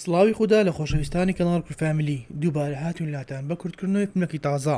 سڵاوی خودا لە خۆشەویستانی کەناڵ کور فامیلی، دووبارە هاتوین لاتان بە کورت کردنەوەی فلمێکی تازە،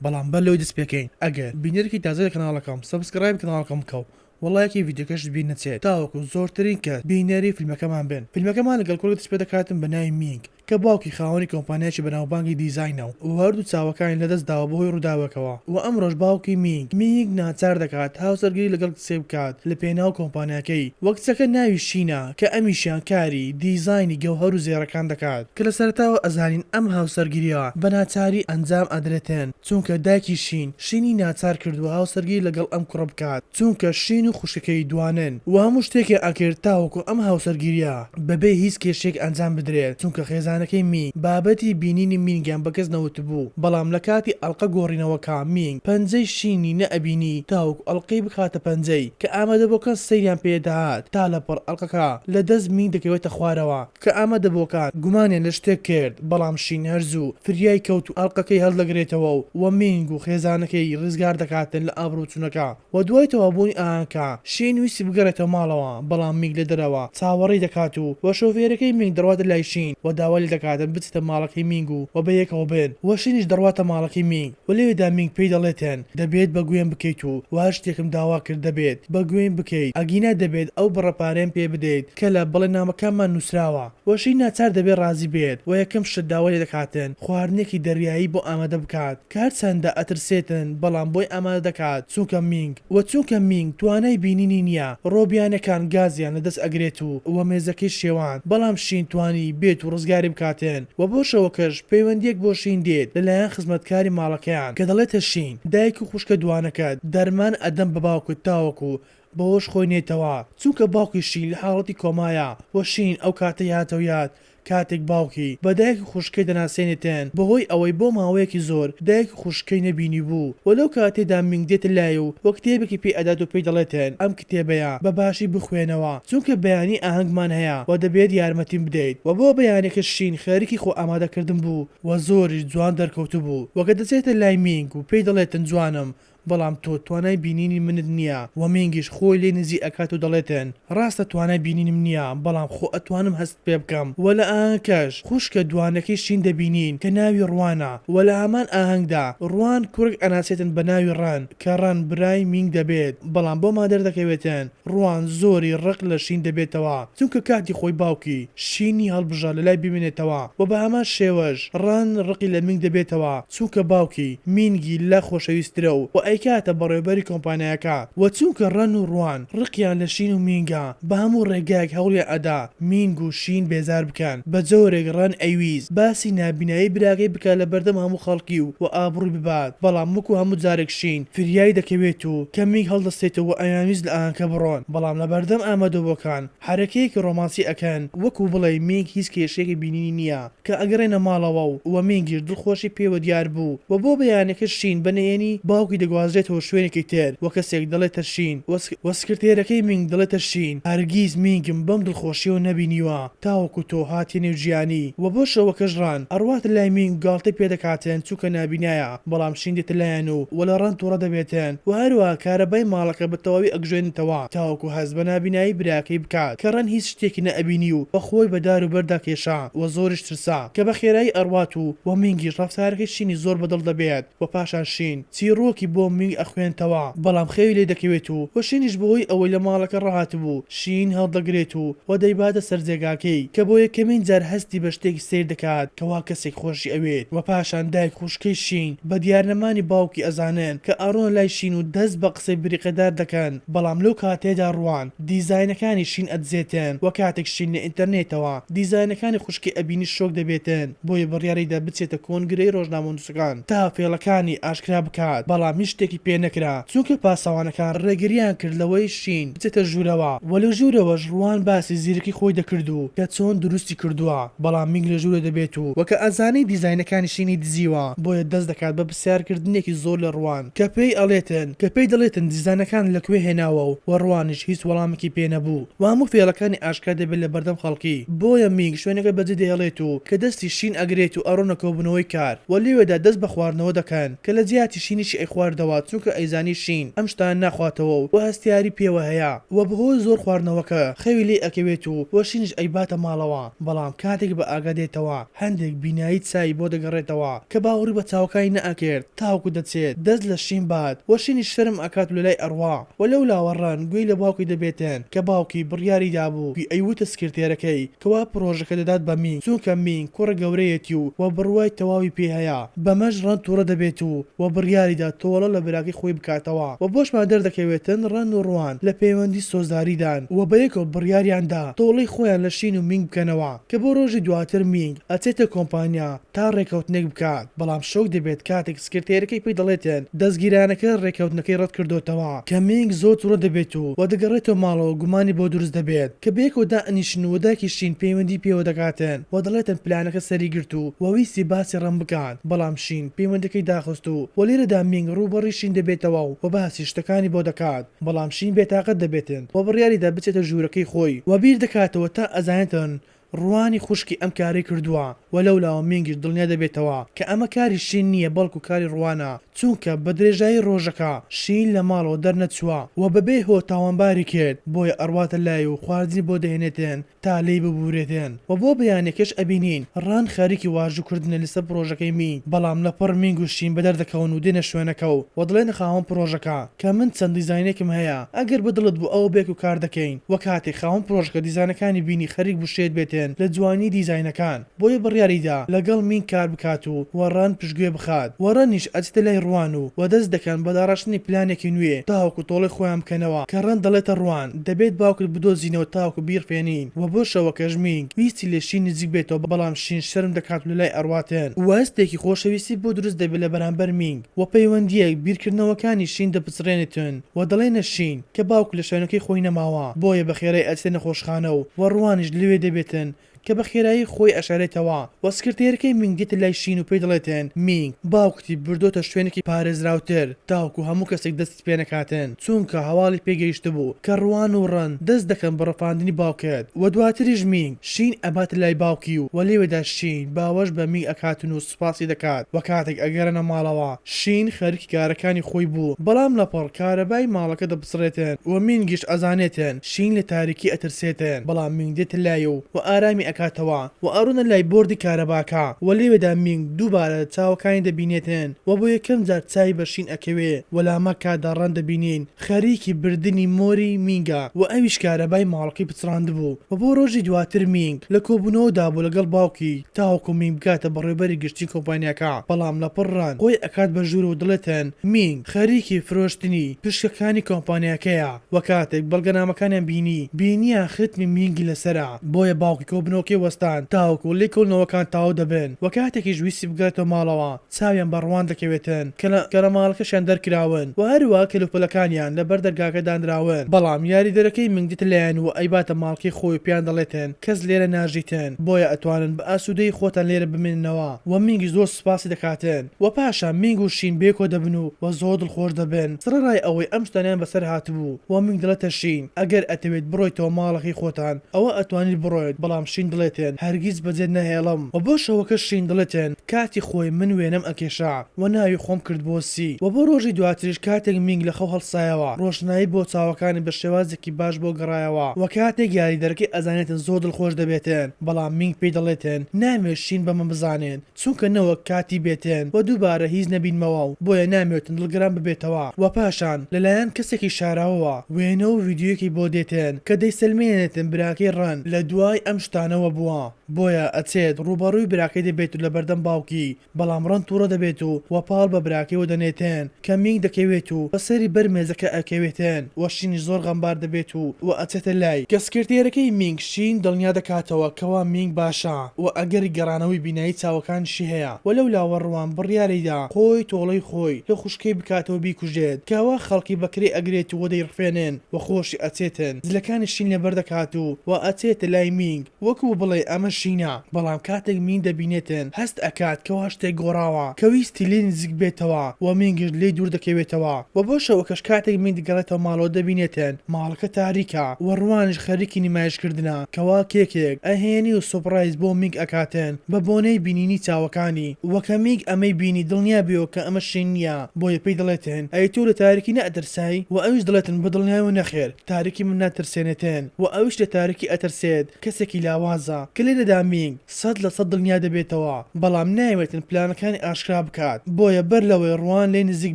بەڵام بەر لەوەی دەست پێکەین ئەگەر بینەرێکی تازەی لە کەناڵەکەم سەبسکرایبی کەناڵەکەم بکە و وە ڵایکی ڤیدیۆکەشت بیر نەچێت تاوەکو زۆرترین کەس بینەری فلمەکەمان بن فلمەکەمان لەگەڵ کورک دەست پێدەکاتم بە ناوی مینگ کە باوکی خاوەنی کۆمپانیایەکی بەناوبانگی دیزاینە و وە هەردوو چاوەکانی لەدەست داوە بەهۆی ڕوداوێکەوە وە ئەمڕۆش باوکی مینگ مینگ ناچار دەکات هاوسەرگیری لەگەڵ کچێک بکات لە پێناو کۆمپانیاکەی وە کچەکە ناوی شینە کە ئەمیشیان کاری دیزاینی گەوهەر و زێڕەکان دەکات، کە لە سەرەتاوە ئەزانین ئەم هاوسەرگیرییە بە ناچاری ئەنجام ئەدرێتێن، چونکە دایکی شین، شینی ناچار کردووە هاوسەرگیری لەگەڵ ئەم کوڕە بکات، چونکە شین و خوشکەکەی دوانن و هەموو شتێکیان ئەکرد تاوەکو ئەم هاوسەرگیرییە بەبێ هیچ کێشەیەک ئەنجام بدرێت، چونکە خێزانەکەی مینگ بابەتی بینینی مینگیان بە کەس نەوتبوو، بەڵام لە کاتی ئەڵقە گۆڕینەوەکە مینگ پەنجەی شینی نەئەبینی تاوەکو ئەڵقەی بخاتە پەنجەی. کە ئامادەبووەکان سەیریان پێ دەهات تا لە پڕ ئەڵقەکە لە دەست مینگ دەکەوێتە خوارەوە کە ئامادەبووەکان گومانیان لە شتێک کرد بەڵام شین هەر زوو فریای کەوت و ئەڵقەکەی هەڵدەگرێتەوە و وە مینگ و خێزانەکەی ڕیزگار دەکاتن لە ئابڕوو چونەکە وە دوای تەواوبوونی ئاهەنگکە شین ویستی بگەڕێتەوە ماڵەوە بەڵام مینگ لە دەرەوە چاوەڕێی دەکات و وە شۆفێرەکەی مینگ دەڕواتە لای شین وە داوای لێ دەکاتن بچێتە ماڵەکەی مینگ و وە بەیەکەوە بن وە شینیش دەڕواتە ماڵەکەی مینگ و لەوێدا مینگ پێی دەڵێتن دەبێت بە گوێم بکەیت و وە هەر شتێکم داوا کرد دەبێت بە گوێیم بکەیت ئەگینا دەبێت ئەو بڕە پارەیەم پێ بدەیت کە لە بەڵێننامەکانمان نوسراوە وە ژیر ناچار دەبێت ڕازی بێت وە یەکەم شت داوای لێ دەکاتن خواردنێکی دەریایی بۆ ئامادە بکات کە هەرچەندە ئەترسێتن بەڵام بۆی ئامادە دەکات چونکە مینگ وە چونکە مینگ توانای بینینی نیە ڕۆبیانەکان گازیان لە دەست ئەگرێت و وە مێزەکەی شێواند بەڵام شین توانی بێت و ڕزگاری بکاتن. و بۆ شەوەکەش پەیوەندیەک بۆ شین دێت لە لایەن خزمەتکاری ماڵەکەیان کە دەڵێتە شین دایک و خوشکە دوانەکەت دەرمان ئەدەم بە باوکت تاوەکو بەوەش خۆی نێتەوە چونکە باوکی شین لە حاڵەتی کۆمایە و شین ئەو کاتەی هاتەوە یاد کاتێک باوکی بە دایک و خوشکەی دەناسێنێتێن بەهۆی ئەوەی بۆ ماوەیەکی زۆر دایک خوشکەی نەبینیبوو و لەو کاتەیدا مینگ دێتە لای و و کتێبێکی پێ ئەدات و پێی دەڵێتن ئەم کتێبەیە بە باشی بخوێنەوە چونکە بەیانی ئاهەنگمان هەیە و دەبێت یارمەتیم بدەیت و بۆ بەیانیەکە شین خەریکی خۆ ئامادە کردن بوو و زۆریش جوان دەرکەوتبوو و کە دەچێتە لای مینگ و پێی دەڵێتن جوانم بەڵام تۆ توانای بینینی منت نییە و مینگیش خۆی لێی نزیک ئەکات و دەڵێتن ڕاستە توانای بینینم نییە بەڵام خۆ ئەتوانم پێ بکەم وە لە ئاهەنگکەش خوشکە دوانەکەی شین دەبینین کە ناوی ڕوانە وە لە هەمان ئاهەنگدا ڕوان کوڕێک ئەناسێتن بە ناوی ڕەن کە ڕەن برای مینگ دەبێت بەڵام بۆمان دەردەکەوێتن ڕوان زۆری ڕق لە شین دەبێتەوە چونکە کاتی خۆی باوکی شینی هەڵبژارد لەلای بمێنێتەوە وە بە هەمان شێوەش ڕەن ڕقی لە مینگ دەبێتەوە چونکە باوکی، مینگی، لە خۆشەویسترە و و ئەیکاتە بەڕێوبەری کۆمپانیاکە و چونکە ڕەن و ڕوان ڕقیان لە شین و مینگە بە هەموو ڕێگایەک هەوڵیان ئەدا مینگ و شین بێزار بکەن بە جۆرێک ڕەن ئەیویست باسی نابینایی براکەی بکات لە بەردەم هەموو خەڵکی و و ئابڕوی ببات بەڵام وەکو هەموو جارێک شین فریای دەکەوێت و کە مینگ هەڵدەستێتەوە و ئەیانویست لە ئاهەنگکە بڕۆن بەڵام لە بەردەم ئامادەبووەکان حەرەکەیەکی ڕۆمانسی ئەکەن وەکو بڵێی مینگ هیچ کێشەیەکی بینینی نییە کە ئەگەڕێنە ماڵەوە و وە مینگیش دڵخۆشی پێوە دیار بوو وە بۆ بەیانەکە شین بە نەیەنی باوکی دەگوازرێتەوە شوێنێکی تر وە کەسێک دەڵێتە شین وە وە سکرتێرەکەی مینگ دەڵێتە شین هەرگیز مینگم بەم دڵخۆشیەوە نەبینیوە تاوەکو تۆ هاتیە نێو جیانی وە بۆ شەوەکەش ڕان ئەڕواتە لای مینگ و گاڵتەی پێ دەکاتن چونکە نابینایە بەڵام شین دێتەلایەن و و لە ڕەنت توڕە دەبێتن و هەروەها کارەبای ماڵەکە بە تەواوی ئەگژێنێتەوە تاوەکو هەست بە نابینایی براکەی بکات کە ڕەن هیچ شتێکی نە ئەبینی و و خۆی بە دار و بەردا کێشا و زۆریش ترسا کە بە خێرایی ئەڕوات و و مینگیش ڕەفتارەکەی شینی زۆر بە دڵ دەبێت و پاشان شین چیڕۆکی بۆ مینگ ئەخوێنتەوە بەڵام خەوی لێ دەکەوێت و و شینیش بە هۆی ئەوەی لە ماڵەکە ڕاهاتبوو شیین هەڵدەگرێت و و دەیباتە سەر جێگاکەی کە بۆ یەکەمین جار هەستی بە شتێکی سەیر دەکات کەوا کەسێک خۆشی ئەوێت وە پاشان دایک خوشکەی شیین بە دیار نەمانی باوکی ئەزانن کە ئەڕۆنە لای شیین و دەست بە قسەی بریقەدار دەکەن بەڵام لەو کاتەیەدا ڕوان دیزاینەکانی شیین ئەدزێتن وە کاتێک شیین لە ئینتەرنێتەوە دیزاینەکانی خوشکی ئەبینی شۆک دەبێتن بۆیە بڕیاریدا بچێتە کۆنگرەی ڕۆژنامەنوسەکان تا فێڵەکانی ئاشکرا بکات بەڵام هیچ شتێکی پێ نەکرا چونکە پاسەوانەکان ڕێگریان کرد لەوەی شین بچێتە ژوورەوە وە لە ژوورەوەش ڕوان باسی زیرەکی خۆی دەکرد و کە چۆن دروستی کردووە بەڵام مینگ لە ژوورە دەبێت و وە کە ئەزانێت دیزاینەکانی شینی دزیوە بۆیە دەست دەکات بە پرسیار کردنێکی زۆر لە ڕوان کە پێی ئەڵێتن کە پێی دەڵێتن دیزانەکان لە کوێ هێناوە و وە ڕوانیش هیچ وەڵامێکی پێ نەبوو وە هەموو فێڵەکانی ئاشکرا دەبێت لە بەردەم خەڵکی بۆیە مینگ شوێنەکە بە جێ دەهێڵێت و کە دەستی شین ئەگرێت و ئەڕۆنە کۆبوونەوەی کار وە لێوێدا دەست بە خواردنەوە دەکەن. کە لە جیاتی شینیشی ئەیخواردەوە چونکە ئەیزانی شین ئەم شتانە ناخواتەوە و هەستیاری پێوە هەیە و بەهۆی زۆر خواردنەوەکە خەوی لێ ئەکەوێت و و شینیش ئەیباتە ماڵەوە بەڵام کاتێک بە ئاگا دێتەوە هەندێک بینایی چاوی بۆ دەگەڕێتەوە کە باوەڕی بە چاوەکانی نەئەکرد تاوەکو دەچێت دەست لە شین بات و شینیش شەرم ئەکات و لەلای ئەڕوا و لەولاوە ڕەن گوێی لە باوکی دەبێتن کە باوکی بڕیاری دابوو گوی ئەیوتە سکرتێرەکەی کوا پڕۆژەکە دەدات بە مینگ چونکە مینگ کوڕە گەورەیەتی و وە بڕوای تەواوی پێ هەیە بەمەش ڕەن توڕە دەبێت و وە بڕیاریدا تۆڵە لە براکەی خۆی بکاتەوە وە بۆشمان دەردەکەوێتن ڕەن و ڕوان لە پەیوەندی سۆزداریدان وە بەیەکەوە بڕیاریان دا تۆڵەی خۆیان لە شین و مینگ بکەنەوە کە بۆ ڕۆژی دواتر مینگ ئەچێتە کۆمپانیا تا ڕێکەوتنێک بکات بەڵام شۆک دەبێت کاتێک سکرتێرەکەی پێی دەڵێت دەزگیرانەکە رێککەوتنەکەی رەتکردۆتەوە کە مینگ زۆر توڕە دەبێت و وە دەگەڕێتەوە ماڵەوە گومانی بۆ دروست دەبێت کە بەیەکەوە دائەنیشن و دایکی شین پەیوەندی پێوە دەکاتن وە دەڵێتن پلانەکە سەری گرت و وە ویستی باسی ڕەم بکات بەڵام شین پەیوەندەکەی داخست و وە لێرەدا مینگ ڕووبەڕوی شین دەبێتەوە و وە باسی شتەکانی بۆ دەکات بەڵام شین بێتاقەت دەبێتن وە بڕیاریدا بچێتە ژورەکەی خۆی وە بیردەکاتەوە تا ئەزانێتن ڕوانی خوشکی ئەم کارەی کردووە و لەولاوە مینگیش دڵنیا دەبێتەوە کە ئەمە کاری شین نییە بەڵکو کاری ڕوانە چونکە بە درێژایی ڕۆژەکە شین لە ماڵەوە دەرنەچووە و بەبێ هۆ تاوانباری کرد بۆیە ئەڕواتە لای و خواردنی بۆ دەهێنێتێن تا لێی ببورێتێن و بۆ بەیانیەکەش ئەبینین ڕان خەریکی واژوو کردنە لەسەر پڕۆژەکەی مینگ بەڵام لەپڕ مینگ و شین بەدەردەکەون و دێنە شوێنەکە و دەڵێنە خاوەن پڕۆژەکە کە من چەند دیزاینێکم هەیە ئەگەر بە دڵت بوو ئەوە بێکو کار دەکەین وەک کاتێک خاوەن پرۆژەکە دیزانەکانی بینی خەریک بوو شێت بێتێن لە جوانی دیزاینەکان بۆیە بڕیاری دا لە گەڵ مین کار بکات و وە رەن پشگوێ بخات وە رەنیش ئەچێتە لای روان و وە دەست دەکەن بە داڕشتنی پلانێکی نوێ تاوەکو تۆڵەی خۆیان بکەنەوە کە رەن دەڵێتە روان دەبێت باوکت بدۆزینەوە تاوەکو بیڕفێنین وە بۆ شەوەکەش مینگ ویستی لە شین نزیک بێتەوە بەڵام شین شەرم دەکات و لە لای ئەڕواتێن وە هەستێکی خۆشەویستی بۆ دروست دەبێت لە بەرامبەر مینگ. و پەیوەندییەک بیرکردنەوەکانی شین دەپچڕێنێتن و دەڵێنە شین کە باوک لە شوێنەکەی خۆی نەماوە بۆیە بە خێرای ئەچێتە نەخۆشخانە و و ڕوانیش لەوێ دەبێتن کە بە خێرایی خۆی ئەشارێتەوە و سکرتێرەکەی مینگ دێتە لای شین و پێی دەڵێتن مینگ باوکتی بردۆتە شوێنێکی پارێزراوتر تاوەکو هەموو کەسێک دەستی پێنەکاتن چوونکە هەواڵی پێ گەیشتبوو کە ڕوان و ڕەن دەست دەکەن بە ڕفاندنی باوکت وە دواتریش مینگ شین ئەباتە لای باوکی و وە لێوێدا شین باوەش بە مینگ ئەکاتن و سوپاسی دەکات وە کاتێک ئەگەرنە ماڵەوە شین خەرکی کارەکانی خۆی بوو بەڵام لەپڕ کارەبای ماڵەکە دەبسڕێتن وە مینگیش ئەزانێتن شین لە تاریکی ئەترسێتن بەڵام مینگ دێتە لای و وە ئارامی ئەکاتەوە. و ئەڕۆنە لای بۆردی کارەباکە و لەوێدا مینگ دووبارە چاوەکانی دەبینێتن و بۆ یەکەم جار چاوی بە شین ئەکەوێ و لامەکە داڕان دەبینین خەریکی بردنی مۆری مینگە و ئەویش کارەبای ماڵەکەی پچڕاندبوو و بۆ ڕۆژی دواتر مینگ لە کۆبوونەوەدا بوو لەگەڵ باوکی تاوەکو مینگ بگاتە بەڕێوبەری گشتی کۆمپانیاکە بەڵام لەپڕ ڕەنگ خۆی ئەکات بە ژوور و دەڵێتن مینگ خەریکی فرۆشتنی پشکەکانی کۆمپانیاکەیە. وە کاتێک بەڵگەنامەکانیان بینی بینیان ختمی مینگی لەسەرە بۆیە باوکی کۆبنەوەکەی وەستان تاوەکو لێکۆڵینەوەکان تەواو دەبن وە کاتێکیش ویستی بگەڕێتەوە ماڵەوە چاویان بە ڕوان دەکەوێتن کە لە گەڕەماڵەکەشیان دەرکراون وە هەروەها کەلوپەلەکانیان لەبەر دەرگاکە دانراون بەڵام یاریدەرەکەی مینگ دێتە لایان وە ئەیباتە ماڵکەی خۆی و پێیان دەڵێتن کەس لێرە ناژیتن بۆیە ئەتوانن بە ئاسودەیی خۆتان لێرە بمێننەوە وە مینگیش زۆر سوپاسی دەکاتن و پاشان مینگ و شین بێ کۆ دەبن و و زۆر دڵخۆش دەبن سڕەڕای ئەوەی ئەم شتانەیان بەسەر هاتبوو و مینگ دەڵێتە شین ئەگەر ئەتەوێت بڕۆیتەوە ماڵەکەی خۆتان ئەوا ئەتوانیت بڕۆیت بەڵام شین دڵێتێن هەرگیز بەجێت نەهێڵم و بۆ شەوەکەش شین دڵێتێن کاتی خۆی من وێنەم ئەکێشا و ناوی خۆم کرد بۆ سی و بۆ ڕۆژی دواتریش کاتێک مینگ لە خەو هەڵسایەوە ڕۆشنایی بۆ چاوەکانی بە شێوازێکی باش بۆ گەڕایەوە و کاتێک یاریدەرەکەی ئەزانێتن زۆر دڵخۆش دەبێتێن بەڵام مینگ پێی دەڵێتێن نامەوێت شین بەمە بزانێت چونکە نەوەک کاتی بێتێن و دووبارە هیچ نەبینمەوە و بۆیە نامێوتن دڵگران ببێتەوە و پاشان لە لایەن کەسێکی شاراوەوە وێنە و ڤیدیۆیەکی بۆ دێتێن کە دەیسەلمێنێتن براکەی ڕەن لە دوای ئەم شتانەوە بووە بۆیە ئەچێت ڕووبەڕووی براکەی دەبێت و لە بەردەم باوکی بەڵام ڕەن توڕە دەبێت و وەپاڵ بە براکەیەوە دەنێتێن کە مینگ دەکەوێت و بە سەری بەر مێزەکە ئەکەوێتن و شینیش زۆر غەمبار دەبێت و و ئەچێتە لای کە سکرتێرەکەی مینگ شین دڵنیا دەکاتەوە کەوا مینگ باشە و ئەگەری گەڕانەوەی بینایی چاوەکانیشی هەیە و لەو لاوە ڕوان بڕیاریدا خۆی تۆڵەی خۆی لە خوشکەی بکاتەوە بیکوژێت کەوا خەڵکی بەکرێ ئەگرێت و دەیڕفێنن و خۆشی ئەچێتن زلەکانی شین لەبەر دەکات و و ئەچێتە لای مینگ وەکو بڵێی ئەمە شینە بەڵام کاتێک مین دەبینێتن هەست ئەکات کەوا شتێک گۆڕاوە کە ویستی لێی نزیک بێتەوە وە مین گشت لێی دوور دەکەوێتەوە وە بۆ شەوەکەش کاتێک مین دەگەڕێتەوە ماڵەوە دەبینێتن ماڵەکە تاریکە وە ڕوانیش خەریکی نمایش کردنە کەوا کێکێک ئەهێنی و سۆپڕایز بۆ مینگ ئەکاتن بە بۆنەی بینینی چاوەکانی وە کە مینگ ئەمەی بینی دڵنیا بیەوە کە ئەمە شین نیە بۆیە پێی دەڵێتن ئەی تۆ لە تاریکی نەئەترسای وە ئەویش دەڵێتن بە دڵنیایەوە نەخێر تارکی من ناترسێنێتێن و ئەویش لە تارکی ئەترسێت کەسێکی لاوازە کە لێدەدا مینگ سەد لە سەد دڵنیا دەبێتەوە بەڵام نایەوێتن پلانەکانی ئاشکرا بکات بۆیە بەر لەوەی ڕوان لێی نزیک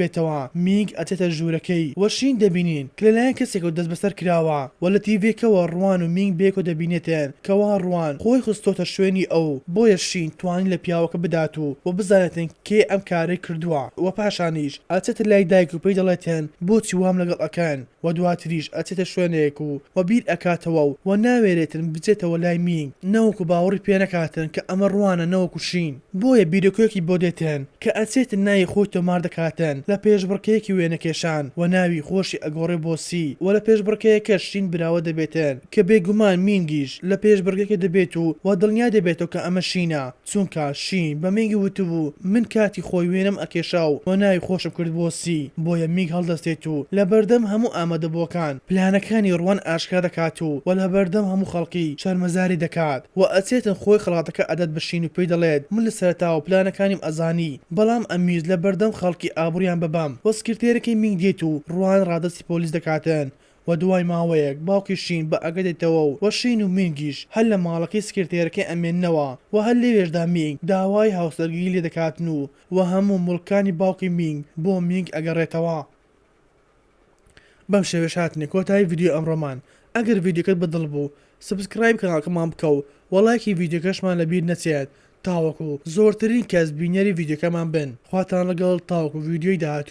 بێتەوە مینگ ئەچێتە ژورەکەی و شین دەبینین کە لەلایەن کەسێکەوە دەست بەسەر کراوە و لە تیڤێکەوە ڕوان و مینگ بەیەکەوە دەبینێتێن کەوا ڕوان خۆی خستۆتە شوێنی ئەو بۆیە شین توانی لە پیاوەکە بدات و و بزانێتن کێ ئەم کارەی کردوە و پاشانیش ئەچێتە لای دایک و پێی دەڵێتێن بۆچی وام لەگەڵ ئەکەن و دواتریش ئەچێتە شوێنێک و و بیر ئەکاتەوە و و ناوێرێتن بچێتەوە لای مینگ نەوەکو باوەڕی پێ نەکاتن کە ئەمە ڕوانە نەوەکو شین بۆیە بیرۆکەێکی بۆ دێتن کە ئەچێتن ناوی خۆی تۆمار دەکاتن لە پێشبڕکێێکی وێنەکێشان و ناوی خۆشی ئەگۆڕێ بۆ سی و لە پێشبڕکێەکەش شین براوە دەبێتن کە بێگومان مینگیش لە پێشبڕکێکە دەبێت و و دڵنیا دەبێتەوە کە ئەمە شینە. چونکا شین بە مینگ وتبوو من کاتی خۆی وێنەم ئەکێشا و تۆ ناوی خۆشم کرد بۆ سی بۆیە مینگ هەڵدەستێت و لە بەردەم هەموو ئامادەبووەکان پلانەکانی ڕوان ئاشکرا دەکات و وە لەبەردەم هەموو خەڵکی شەرمەزاری دەکات وە ئەچێتن خۆی خەڵاتەکە ئەدات بە شین و پێی دەڵێت من لە سەرەتاوە پلانەکانیم ئەزانی بەڵام ئەمویست لە بەردەم خەڵکی ئابڕویان ببەم وە سکرتێرەکەی مینگ دێت و ڕوان ڕادەستی پۆلیس دەکاتن و دوای ماوەیەک باوکی شین بە ئەگە دێتەوە و و شین و مینگیش هەر لە ماڵەکەی سکرتێرەکەی ئەمێننەوە و هەر لەوێشدا مینگ داوای هاوسەرگیری لێ دەکاتن و و هەموو موڵکانی باوکی مینگ بۆ مینگ ئەگەڕێتەوە. بەم شێوەیەش هاتینە کۆتایی ڤیدیۆی ئەمڕۆمان ئەگەر ڤیدیۆکەت بە دڵ بوو سبسکرایبی کەناڵکەمان بکە و و ڵایکی ڤیدیۆکەشمان لە بیر نەچێت تاوەکو زۆرترین کەس بینەری ڤیدیۆکەمان بن خواتان ڵەگەڵ تاوەکو ڤیدیۆی داهاتوو.